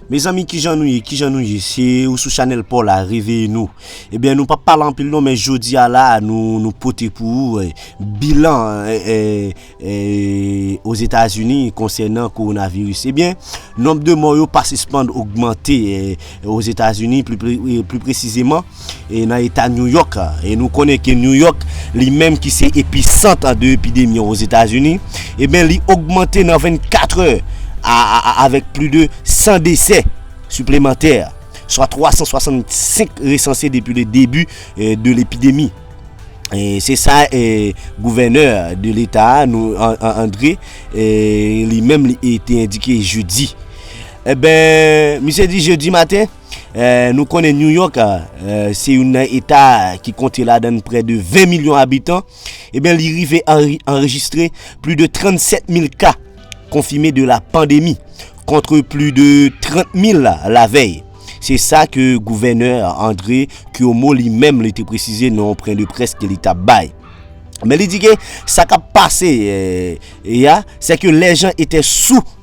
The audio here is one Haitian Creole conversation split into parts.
Mezanmi kijan nou ye kijan nou ye se ou sou chanel paw la reveye nou ebyen eh nou pa pala anpil nou men jodi a la nou nou pote pou ou eh, bilan eh, eh, eh, oz etazini konsè nan korona viris ebyen eh, nonb de mò yo pa sispand ogmante eh, oz etazini pli presizeman e nan eta New York a, e nou konnen ke New York li menm ki se episant de epidemi an Ozetazini, eben li ogmante nan 24 è a avèk pli de 100 desè siplemantè, swa 365 resanse depi le debi de lepidemi. Se sa gouvènè de leta a, Andre, li menm li te endike jedi. Eben, misye di jedi maten. Nou konnen New York se youn nan eta ki konte ladan n prè de 20 milyon abitan, ebyen li rive anrejistre pli de 37 mil ka konfime de la pandemi, kontre pli de 30 mil la vèy. Se sa ke gouvènè Andre Cuomo li menm li te presize nan yon pren de près ke li tap bay. Men li di ke sa kap pase ya, se ke lè jan etè sou.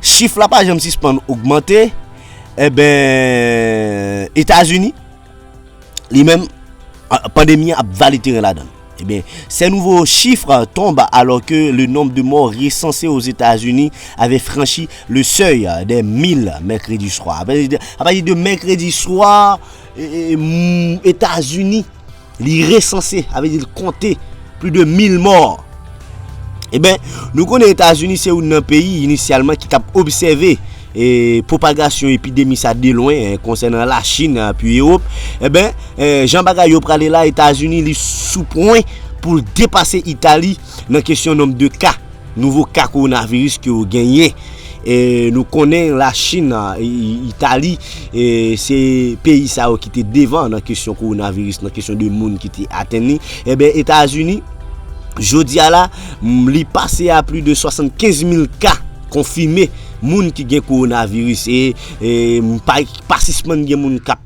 chif la pa janm sispann ogmante, eben, eh Etazini, li menm, pandemi ap vale teren la dan. Eben, eh se nouvo chif tonb alò ke le nomb de mò resanse o Etazini ave franchi le sèy de 1000 mèkredi swa. Apati de mèkredi swa, Etazini, Li resanse, sa vle di li konte plis de 1000 mò. E ben, nou konnen Etazini se youn nan peyi inisyalman ki tap obsève e pwopagasyon epidemi sa de lwen konsènan la Chin api Ewop. E ben, jan bagay yo prale la, Etazini li sou pwen pou l depase Itali nan kesyon nonb de ka. Nouvo ka kowonaviris ke yo genyen, nou konnen la Chin, Itali, se peyi sa yo ki te devan nan kesyon kowonaviris, nan kesyon de moun ki te atenn li, e ben Etazini, jodi a la, li pase a pli de 75 mil ka konfime moun ki gen kowonaviris, e pa sispann gen moun kap.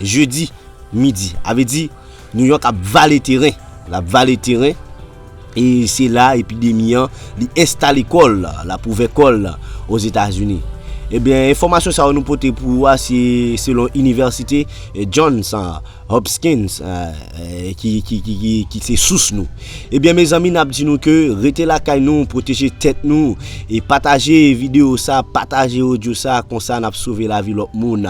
Jedi midi. A vle di New York ap vale teren. L ap vale teren. E se la epidemi an li enstale kò l, l ap ouvè kò l Ozetazini. Ebyen, enfòmasyon sa yo nou pote pou ou a se selon inivèsite Johns Hopkins ki se sous nou. Ebyen mezanmi n ap di nou ke rete lakay nou, pwoteje tèt nou e pataje videyo sa, pataje odyo sa konsa n ap sove lavi lòt moun.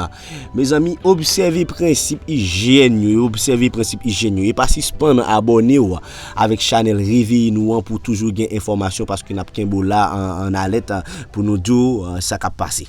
Mezanmi obsève prensip ijyèn yo e obsève prensip ijyèn yo e pa sispann abòne w avèk chanèl Reveye Nou an pou toujou gen enfòmasyon paske nap kenbe w la an alèt pou nou di w sa kap pase.